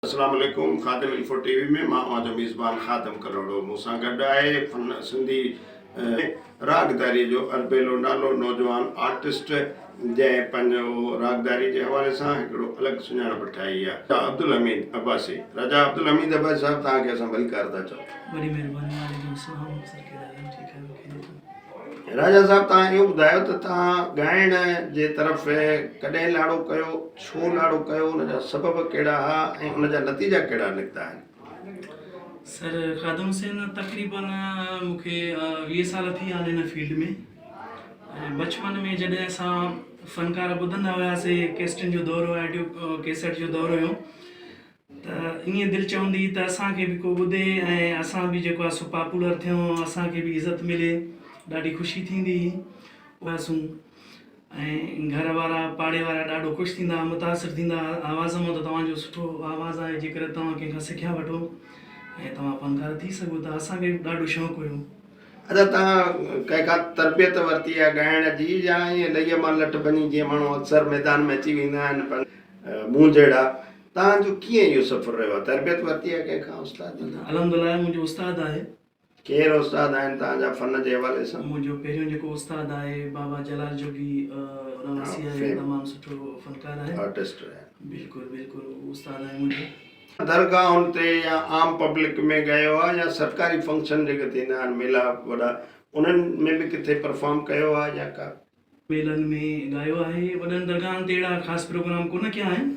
اسلام عليڪم Khadim Info TV وي ۾ مان اوهان جو ميزبان خادم ڪلهوڙو مون سان گڏ آهي فن سنڌي راڳداري جو اربيلو نالو نوجوان آرٽسٽ جنهن پنهنجو راڳداري جي حوالي سان هڪڙو الڳ سڃاڻپ ٺاهي آهي رضا عبدالحميد عباسي رضا عبدالحميد عباسي صاحب توهان کي اسان ڀلڪار ٿا چئون. وڏي مهرباني وعليڪم السلام سرڪي ڏاڏا ٺيڪ آهيو خيريت. راجا صاحب توهان اهو ٻڌايو ته توهان ڳائڻ جي طرف ڪڏهن لاڙو ڪيو، ڇو لاڙو ڪيو، ان جا سبب ڪهڙا ها ۽ ان جا نتيجا ڪهڙا نڪتا آهن؟ سر خادم حسين تقريباً مون کي ويهه سال ٿي ويا آهن هن فيلڊ ۾ ۽ بچپن ۾ جڏهن اسان فنڪار ٻڌندا هياسي ڪيسٽن جو دور هو آڊيو ڪيسٽ جو دور هيو ته ائين دل چوندي ته اسان کي به ڪو ٻڌي ۽ اسان به جيڪو آهي سو پاپولر ٿيون اسان کي به عزت ملي ڏاڍي خوشي ٿيندي هئاسون ۽ گهر وارا پاڙي وارا ڏاڍو خوش ٿيندا هئا متاثر ٿيندا هئا آواز مان ته توهان جو سٺو آواز آهي جي ڪري توهان ڪنهن کان سکيا وٺو ۽ توهان فنڪار ٿي سگهو ٿا اسان کي به ڏاڍو شوق هيو ادا توهان ڪنهن کان تربيت ورتي آهي ڳائڻ جي يا ائين لئي مان لٺ ڀڃي جيئن ماڻهو اڪثر ميدان ۾ اچي ويندا آهن مون جهڙا توهان جو ڪيئن اهو سفر رهيو آهي؟ تربيت ورتي آهي ڪنهن کان استاد جي کان؟ الحمد الله منهنجو استاد آهي. ڪير استاد آهن توهان جا فن جي حوالي سان؟ منهنجو پهريون جيڪو استاد آهي بابا جلال جوڳي رهواسي آهي تمام سٺو فنڪار آهي. آرٽسٽ رهيا آهن. بلڪل بلڪل اهو استاد آهي منهنجو. درگاهن تي يا عام پبلڪ ۾ ڳايو آهي يا سرڪاري فنڪشن جيڪي ٿيندا آهن ميلاپ وڏا انهن ۾ به ڪٿي پرفارم ڪيو آهي يا ڪا. ميلن ۾ ڳايو آهي. وڏن درگاهن تي اهڙا خاص پروگرام ڪونه ڪيا آهن.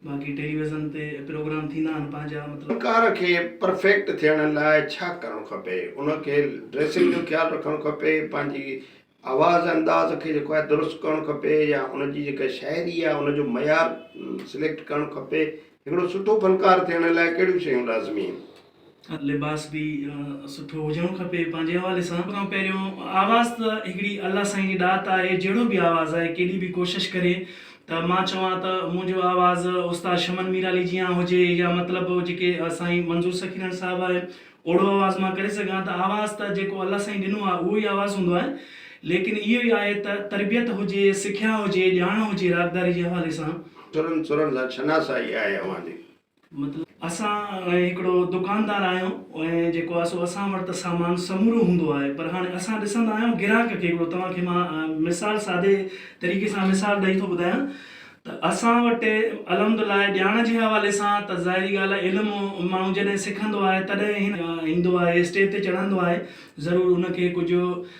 باقي ٽيلي ويزن تي پروگرام ٿيندا آهن پنهنجا مطلب. فنڪار کي پرفيڪٽ ٿيڻ لاء ڇا ڪرڻ کپي؟ ان کي ڊريسنگ جو خيال رکڻ کپي، پنهنجي آواز انداز کي جيڪو آهي درست ڪرڻ کپي يا ان جي جيڪا شاعري آهي ان جو معيار سليڪٽ ڪرڻ کپي. هڪڙو سٺو فنڪار ٿيڻ لاء ڪهڙيون شيون لازمي آهن؟ لباس به سٺو هجڻو کپي پنهنجي حوالي سان پر پهريون آواز ته هڪڙي الله سائين جي ڏات آهي جهڙو به آواز آهي ڪيڏي به ڪوشش ڪري ته مان چوان ته منهنجو آواز استاد شمن ميرالي جيان هجي يا مطلب جيڪي سائين منظور سخيرڻ صاحب آهي اوڙو آواز مان ڪري سگهان ته آواز ته جيڪو الله سائين ڏنو آهي اهو ئي آواز هوندو آهي ليڪن اهو ئي آهي ته تربيت هجي سکيا هجي ڄاڻ هجي راڳداري جي حوالي سان. سرن سرن سان شناسائي آهي اوهان جي مطلب اسان هڪڙو دڪاندار آهيون ۽ جيڪو آهي سو اسان وٽ ته سامان سمورو هوندو آهي پر هاڻي اسان ڏسندا آهيون گراهڪ کي هڪڙو توهان کي مان مثال سادي طريقي سان مثال ڏئي ٿو ٻڌايان ته اسان وٽ الحمدالله ڄاڻ جي حوالي سان ته ظاهري ڳالهه آهي علم ماڻهو جڏهن سکندو آهي تڏهن هن ايندو آهي اسٽيج تي چڙهندو آهي ضرور ان کي ڪجهه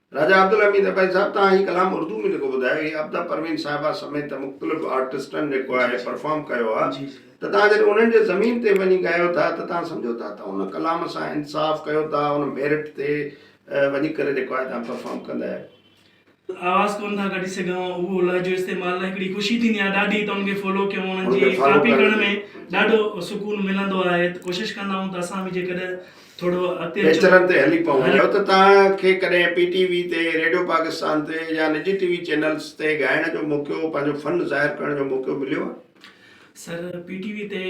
راجا عبدالحميد اباهي صاحب توهان هي ڪلام اردو ۾ جيڪو ٻڌايو هي ابدا پروين صاحبه سميت مختلف آرٽسٽن جيڪو آهي پرفارم ڪيو آ ته توهان جڏهن انهن جي زمين تي وڃي ڳايو ٿا ته توهان سمجهو ٿا ته ان ڪلام سان انصاف ڪيو ٿا ان ميرٽ تي وڃي ڪري جيڪو آهي توهان پرفارم ڪندا آهيو. آواز ڪونه ٿا ڪڍي سگهان اهو لهجو استعمال هڪڙي خوشي ٿيندي آهي ڏاڍي ته ان کي فالو ڪيون انهن جي ڪاپي ڪرڻ ۾ ڏاڍو سڪون ملندو آهي ته ڪوشش ڪندا آهيون ته اسان به جيڪڏهن پيچرن تي هلي پون ڇو ته توهان کي ڪڏهن پي ٽي وي تي، ريڊيو پاڪستان تي يا نجي ٽي وي چينلز تي ڳائڻ جو موقعو، پنهنجو فن ظاهر ڪرڻ جو موقعو مليو آهي؟ سر پي ٽي وي تي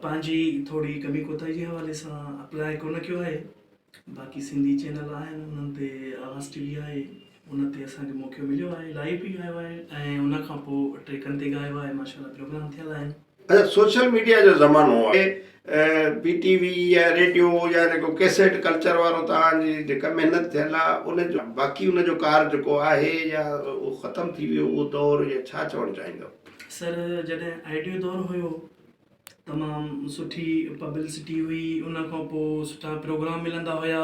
پنهنجي ٿوري ڪمي ڪوتاهي جي حوالي سان اپلاء ڪونه ڪيو آهي باقي سنڌي چينل آهن انهن تي آواز ٽي وي آهي ان تي اسان کي موقعو مليو آهي لائيو به ڳايو آهي ۽ ان کان پوء ٽريڪن تي ڳايو آهي ماشاء الله پروگرام ٿيل آهن اچا سوشل ميڊيا جو زمانو آهي بي ٽي وي يا ريڊيو يا ان ڪو ڪيسيٽ ڪلچر وارو توهان جي جيڪا محنت ٿيل آهي ان جو باقي ان جو ڪار جيڪو آهي يا اهو ختم ٿي ويو اهو دور يا ڇا چوڻ چاهيندو. سر جڏهن آئيڊيو دور هيو تمام سٺي پبلسٽي هئي ان کان پوء سٺا پروگرام ملندا هيا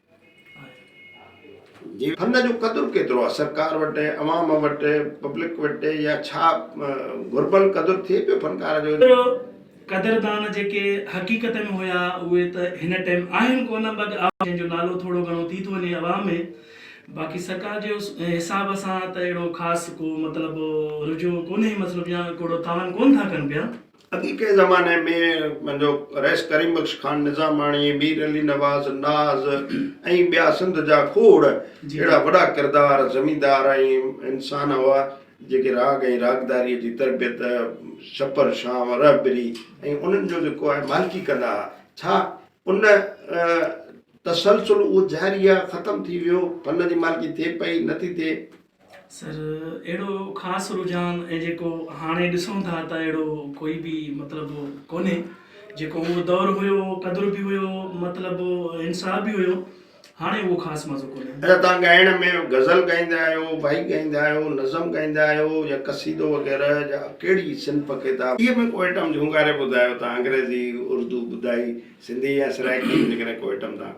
جي فن جو قدر ڪيترو آهي سرڪار وٽ عوام وٽ پبلڪ وٽ يا ڇا گهربل قدر ٿئي پيو فنڪار جو. پر قدردان جيڪي حقيقت ۾ هيا اهي ته هن ٽيم آهن ڪونه بگ آهن جنهن جو نالو ٿورو گهڻو ٿي ٿو وڃي عوام ۾ باقي سرڪار جي حساب سان ته اهڙو خاص ڪو مطلب رجوع ڪونهي مطلب يا ڪوڙو تعاون ڪونه ٿا ڪن پيا. اڳي ڪنهن زماني ۾ پنهنجو رئيس ڪريم بخش خان نظاماڻي، مير علي نواز، ناز ۽ ٻيا سنڌ جا کوڙ اهڙا وڏا ڪردار، زميندار ۽ انسان هئا، جيڪي راڳ ۽ راڳداريء جي تربيت، ڇپر، شانء، رهبري ۽ انهن جو جيڪو آهي مالڪي ڪندا ها. ڇا ان تسلسل اهو جاري آهي، ختم ٿي ويو، فن جي مالڪي ٿئي پئي، نه ٿي ٿئي؟ سر اهڙو خاص رجحان ۽ جيڪو هاڻي ڏسون ٿا ته اهڙو ڪوئي به مطلب ڪونهي جيڪو اهو دور هيو قدر به هيو مطلب انصاف به هيو هاڻي اهو خاص مزو ڪونهي. اچا توهان ڳائڻ ۾ غزل ڳائيندا آهيو، وائي ڳائيندا آهيو، نظم ڳائيندا آهيو يا قصيدو وغيره جا ڪهڙي صنف ڪتاب. اهي ۾ ڪو ائٽم جهونگاري ٻڌايو توهان انگريزي اردو ٻڌائي سنڌي يا سرائيڪي ۾ جيڪڏهن ڪو ائٽم توهان.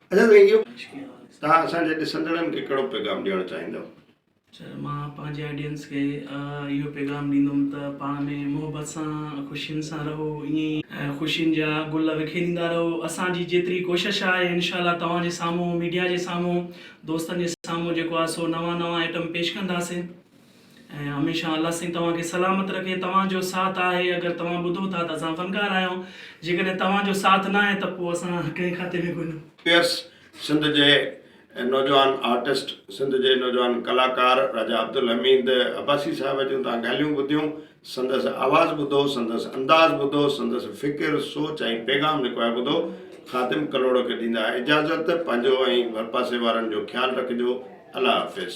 اچا سائين جيو توهان اسان جي ڏسندڙن کي ڪهڙو پيغام ڏيڻ چاهيندؤ؟ اچا مان پنهنجي آڊينس کي اهو پيغام ڏيندم ته پاڻ ۾ محبت سان خوشين سان رهو ائين ئي خوشين جا گل وکيريندا رهو اسان جي جيتري ڪوشش آهي انشاء الله توهان جي سامهون ميڊيا جي سامهون دوستن جي سامهون جيڪو آهي سو نوان نوان آئٽم پيش ڪنداسين. ۽ هميشه الله سائين توهان کي سلامت رکي توهان جو ساٿ آهي اگر توهان ٻڌو ٿا ته اسان فنڪار آهيون جيڪڏهن توهان جو ساٿ نه آهي ته پوء اسان ڪنهن کاتي ۾ ڪونه. پيئرس سنڌ جي نوجوان آرٽسٽ سنڌ جي نوجوان ڪلاڪار راجا عبدالحميد عباسي صاحب جون تهان ڳالهيون ٻڌيون سندس آواز ٻڌو، سندس انداز ٻڌو، سندس فڪر، سوچ ۽ پيغام جيڪو آهي ٻڌو. خادم ڪلهوڙو کي ڏيندا اجازت. پنهنجو ۽ ڀرپاسي وارن جو خيال رکجو. الله حافظ.